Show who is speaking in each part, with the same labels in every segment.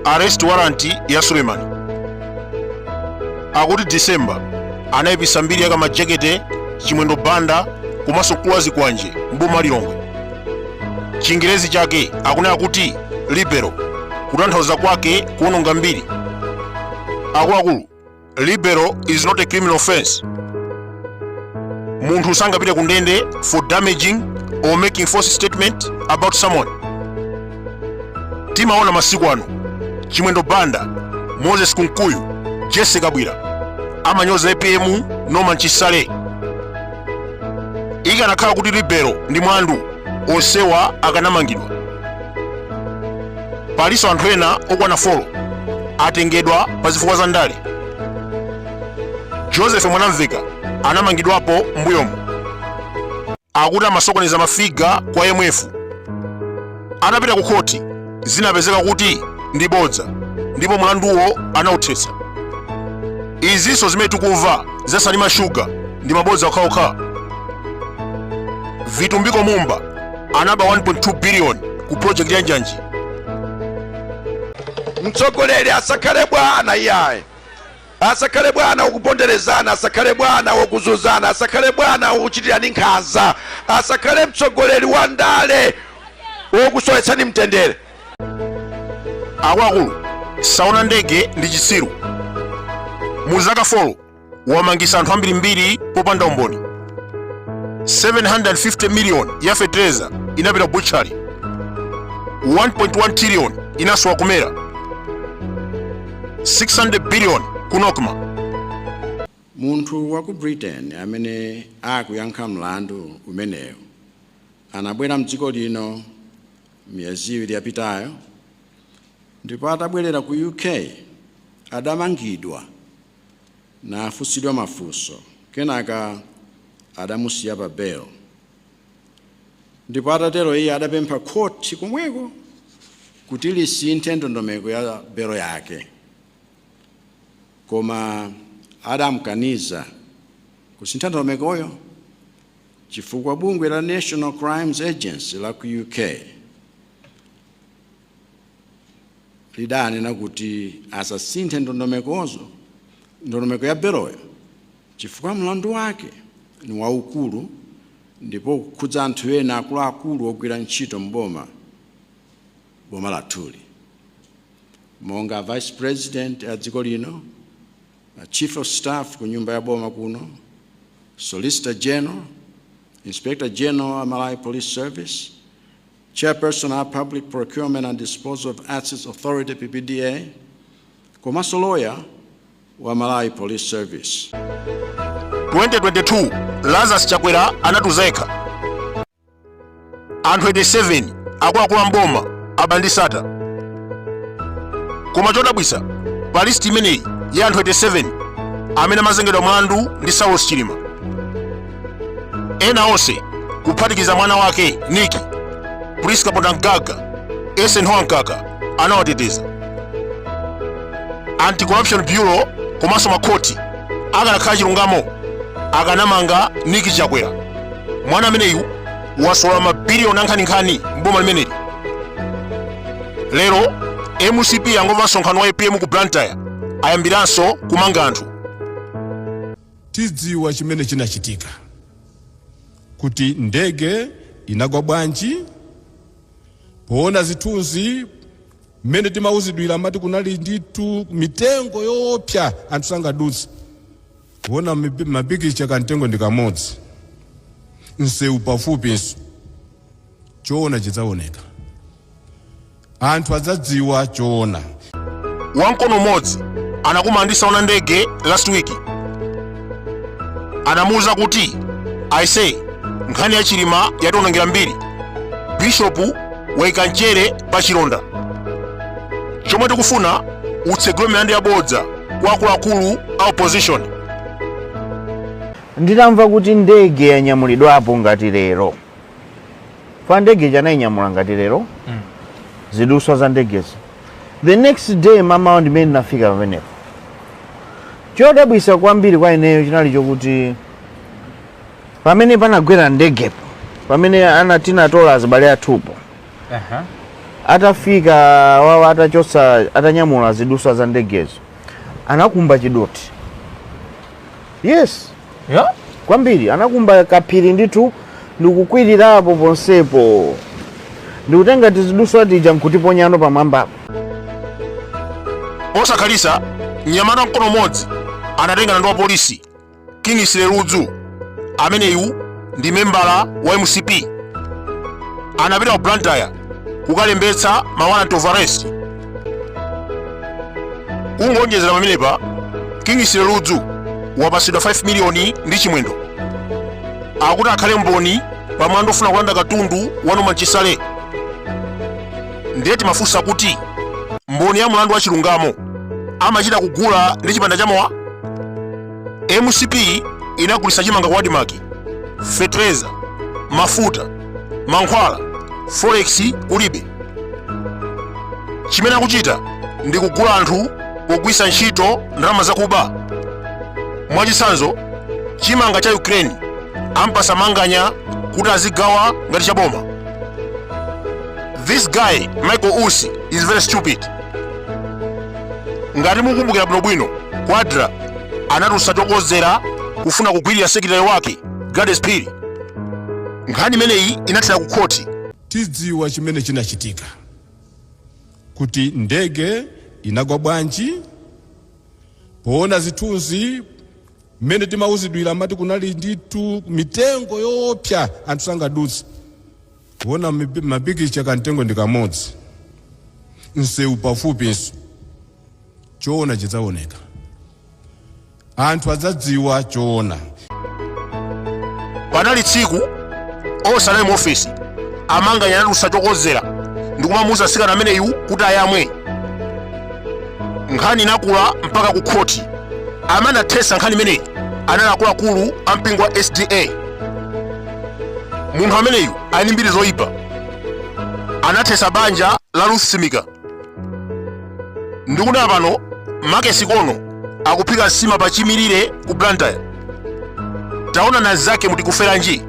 Speaker 1: arrest warrant ya suleiman akuti december anayipisa mbiri ya Kamajekete chimwendo banda komanso mkulu wa zikwanje m'boma la Lilongwe chingerezi chake akunena kuti libel kutanthauza kwake kuononga mbiri akuluakulu libel is not a criminal offense munthu sangapite ku ndende for damaging or making false statement about someone timaona masiku ano chimwendo banda moses kunkuyu jesse Kabwila amanyoza apm norman chisale ikanakhala kuti libel ndi mlandu onsewa akanamangidwa palinso anthu ena okwana 4 atengedwa pa zifukwa za ndale joseph mwanamveka anamangidwapo m'mbuyomu akuti amasokoneza mafiga kwa IMF anapita ku khoti zinapezeka kuti ndi bodza ndipo mlanduwo anauthetsa izinso zimene tikumva za salima shuga ndi mabodza okhaokha vitumbiko mumba anaba 1.2 billion ku project ya
Speaker 2: njanji mtsogoleri asakhale bwana iyayi asakhale bwana wokuponderezana asakhale bwana wokuzuzana asakhale bwana wokuchitirani nkhanza asakhale mtsogoleri wa ndale wokusowetsani
Speaker 1: mtendere akuluakulu saona ndege ndi chitsiru mu zaka 4 wamangisa anthu ambirimbiri popanda umboni 750 million ya fetereza inapita butchery 1.1 trillion inasowa ku MERA 600 billion ku
Speaker 3: NOCMA munthu wa ku britain amene akuyankha mlandu umenewu anabwera mdziko lino miyezi iwiri yapitayo ndipo atabwerera ku uk adamangidwa nafunsidwa mafunso kenaka adamusiya pa belo ndipo atatero iye adapempha khoti komweko kuti lisinthe ndondomeko ya belo yake koma adamkaniza kusintha ndondomekoyo chifukwa bungwe la national crimes agency la ku uk lidanena kuti asasinthe ndondomeko ya beloyo chifukwa mlandu wake ni waukulu ndipo ukukhudza anthu ena akuluakulu ogwira ntchito m'boma boma lathuli monga a vice president a dziko lino a chief of staff ku nyumba ya boma kuno solicitor general inspector general a malawi police service Chairperson a Public Procurement and Disposal of Assets Authority, PPDA, komanso loya wa Malawi Police Service. 2022
Speaker 1: Lazarus Chakwera anatiuza yekha anthu 87 akuluakulu a mboma aba ndi Sattar koma chodabwisa pa listi imeneyi ya anthu 87 amene amazengedwa mlandu ndi Saulos Chilima ena onse kuphatikiza mwana wake nick prince kapondamgaga eisenhower mkaka anawateteza anti-corruption bureau komanso makhoti akanakhala chilungamo akanamanga nick chakwera mwana ameneyu wasolola mabiliyoni ankhaninkhani mboma limeneli lero mcp yangomva msonkhano wa apm ku blantyre ayambiranso kumanga anthu Tidziwa
Speaker 4: chimene chinachitika, kuti ndege inagwa bwanji, poona zithunzi mmene timauzidwira amati kunali ndithu mitengo yoopsa anthu sangadutse kuona mipi- mapikicha kamtengo ndi kamodzi msewu pafupinso choona chidzaoneka anthu adzadziwa choona wamkono
Speaker 1: umodzi anakumana ndi saona ndege last week anamuwuza kuti aise nkhani ya chilima yatiwonongera mbiri bishopu waika mchere pa chilonda chomwe tikufuna utsegule milandu yabodza kwa akuluakulu a opposition
Speaker 5: nditamva kuti ndege yanyamulidwapo ngati lero kwa ndege ija anainyamula ngati lero Mm. ziduswa za ndegezo the next day mamawa ndimene ndinafika pamenepo chodabwisa kwambiri kwa ineyo chinali chokuti pamene panagwera ndegepo pamene ana tinatola azibale athupo Aha. atafika awawo atachotsa atanyamula ziduswa za ndegezo anakumba chidothi yes
Speaker 6: Yeah? kwambiri
Speaker 5: anakumba kaphiri ndithu ndikukwirirapo ponsepo ndikutenga tiziduswa tija nkutiponyano pamwambapo
Speaker 1: posakhalitsa mnyamata mkono umodzi anatengana ndi wapolisi kingsley ludzu ameneyu ndi membala wa mcp anapita ku blantyre kukalembetsa ma warrant of arrest kungowonjezera pamenepa kingsley ludzu wapatsidwa 5 miliyoni ndi chimwendo akuti akhale mboni pa mlandu ofuna kulanda katundu wa norman chisale ndiye timafunsa kuti mboni ya mlandu wa chilungamo amachita kugula ndi chipanda cha mowa mcp inagulitsa chimanga ku admarc fetereza mafuta mankhwala forex kulibe chimene akuchita ndi kugula anthu pogwiritsa ntchito ndalama zakuba mwachitsanzo chimanga cha ukraine ampasa manganya kuti azigawa ngati cha boma this guy michael usi is very stupid ngati mukumbukira bwinobwino kwadra anatulutsa chokodzera kufuna kugwirira sekeretale wake gladys phiri nkhani imeneyi inathera ku khoti
Speaker 4: tidziwa chimene chinachitika kuti ndege inagwa bwanji poona zithunzi mmene timauzidwira amati kunali ndithu mitengo yoopsa anthu sangadutse kuona mapikicha kamtengo ndi kamodzi msewu pafupinso choona chidzaoneka anthu adzadziwa
Speaker 1: choona panali tsiku onse anali mu ofesi a manganya anatulutsa chokodzera ndikumamuuza atsikana ameneyu kuti ayamwe nkhani inakula mpaka ku khoti amene anathetsa nkhani imeneyi anali akuluakulu a mpingo wa sda munthu ameneyu ali ndi mbiri zoyipa anathetsa banja la ruth simika ndikunena pano max ikono akuphika nsima pa chimirire ku blantyre taona anzake mr jokes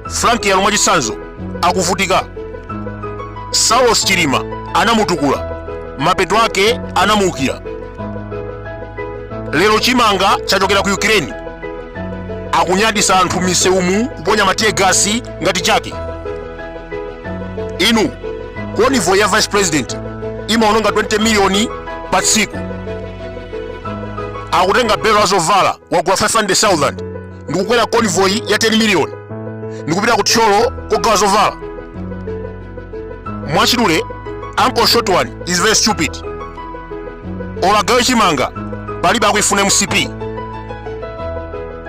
Speaker 1: frank yalu mwachitsanzo akuvutika saulos chilima anamutukula mapeto ake anamuukira lero chimanga chachokera ku ukraine akunyaditsa anthu m'misewumu kuponya matiyegasi ngati chake inu konivoyi ya vice president imaononga 20 miliyoni pa tsiku akutenga belo la zovala wagula 500000 ndikukwera konivoyi ya 10 miliyoni ndikupita ku thyolo kogawa zovala mwachidule uncle short one is very stupid olo agawe chimanga palibe akuifuna mcp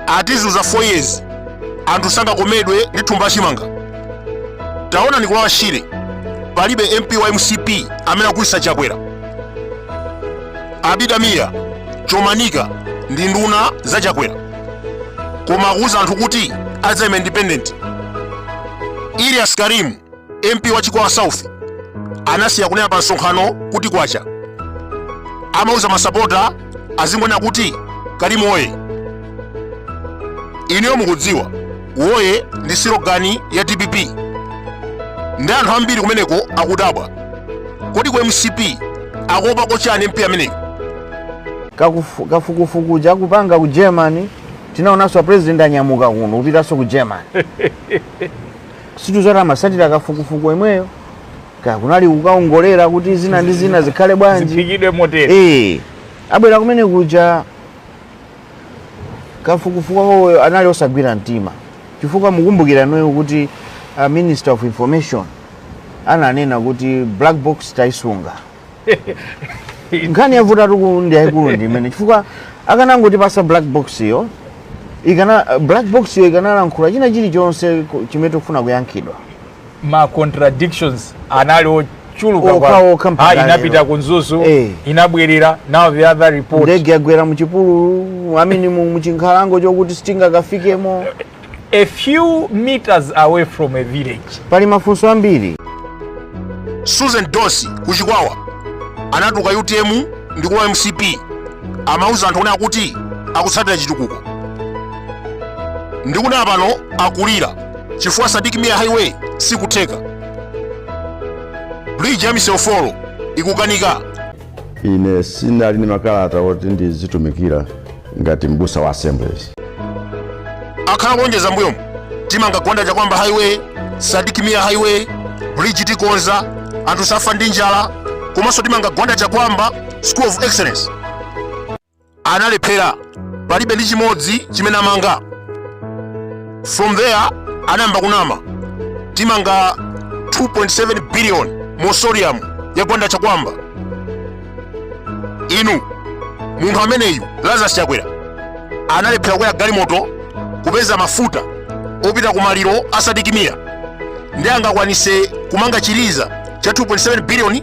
Speaker 1: atizunza 4 years anthu sangakomedwe ndi thumba la chimanga taonani ku lower shire palibe mp wa mcp amene akugulitsa chakwera abida mia chomanika ndi nduna za chakwera koma akuwuza anthu kuti adzayima independent ilias karim mp wa chikwawa south anasiya kunena pa msonkhano kuti kwacha amauza masapota azingonena kuti karimu woye inuyo mukudziwa woye ndi silogani ya dpp ndi anthu ambiri kumeneko akudabwa kodi ku mcp akuopa kochani mp ameneyo Kakufu-
Speaker 5: kafukufuku chakupanga ku germany tinaonanso apresident anyamuka kuno kupitanso ku germany sitidziwa amatsatira kafukufuku yemweyo kaya kunali kukaongolera kuti zina ndi zina zikhale bwanji ziphikidwe
Speaker 6: motere Eh, abwera
Speaker 5: kumene kuja kafukufuku wawoyo anali osagwira mtima chifukwa mukumbukira inuyo kuti uh, minister of information ananena kuti black box tayisunga nkhani yavutatu ndi yayikulu ndi imene chifukwa akanangotipatsa black box yo ikana black box yo ikanalankhula china chilichonse ku- chimene tikufuna kuyankhidwa
Speaker 6: ma contradictions anali ochuluka Okha, kwa- okha mpaka Ah, lero. inapita ku mzuzu Eh. inabwerera now the other report ndege yagwera muchipululu
Speaker 5: i mean mu- muchinkhalango chokuti sitingakafikemo a
Speaker 6: few meters away from a village pali mafunso
Speaker 1: ambiri susan dosi kuchikwawa anatuluka utm ndi kulowa mcp amauza anthu onena kuti akutsatira chitukuko ndikunena pano akulira chifukwa sidik mia highway sikutheka bridge ya miseofolo ikukanika ine
Speaker 7: sinali ndi makalata oti ndizitumikira ngati mbusa wa assemblies
Speaker 1: akhala akulonjeza mbuyomu timanga gwanda chakwamba highway sidik mia highway bridge tikonza anthu safa ndi njala komanso timanga gwanda chakwamba school of excellence analephera palibe ndi chimodzi chimene amanga from there anayamba kunama timanga 2.7 billion mausoleum ya gwanda chakwamba inu munthu ameneyu lazarus chakwera analephera kukwera galimoto kupeza mafuta opita ku maliro a sidik mia ndi angakwanise kumanga chiliza cha 2.7 billion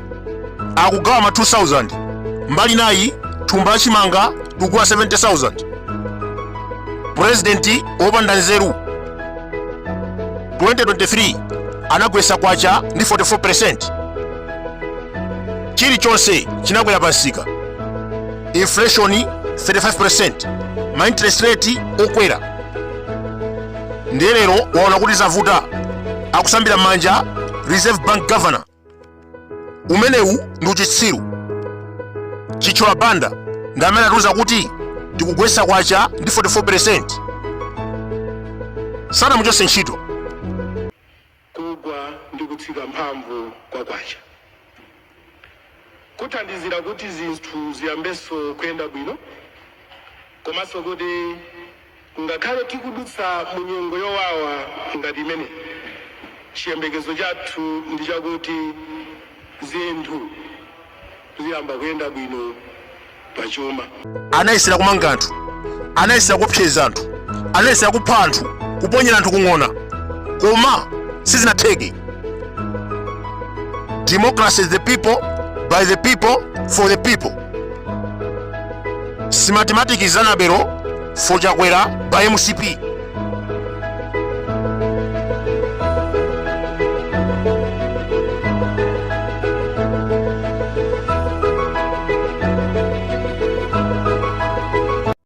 Speaker 1: akugawa ma 2000 mbali nayi thumba lachimanga tikugula 70000 purezidenti wopanda nzeru 2023 anagwesa kwacha ndi 44% chilichonse chinakwera pamsika inflation 35% ma interest rate okwera ndiye lero waona kuti zavuta akusambira manja reserve bank governor umenewu ndi uchitsiru Chithyola Banda ndi amene atiuza kuti tikugwesa kwacha ndi 44 percent sanamuchose ntchito
Speaker 8: kugwa ndi kutsika mphamvu kwa kwacha kuthandizira kuti zinthu ziyambenso kuyenda bwino komanso kuti Ngakhale tikudutsa mu nyengo yowawa ngati imeneyi, chiyembekezo chathu ndi chakuti zinthu ziyamba kuyenda bwino pa chuma. Anayesera
Speaker 1: kumanga anthu, anayesera kuopseza anthu, anayesera kupha anthu, kuponyera anthu ku ng'ona, koma sizinatheke. Democracy is the people, by the people, for the people. si mathematics za Nabero for chakwera by MCP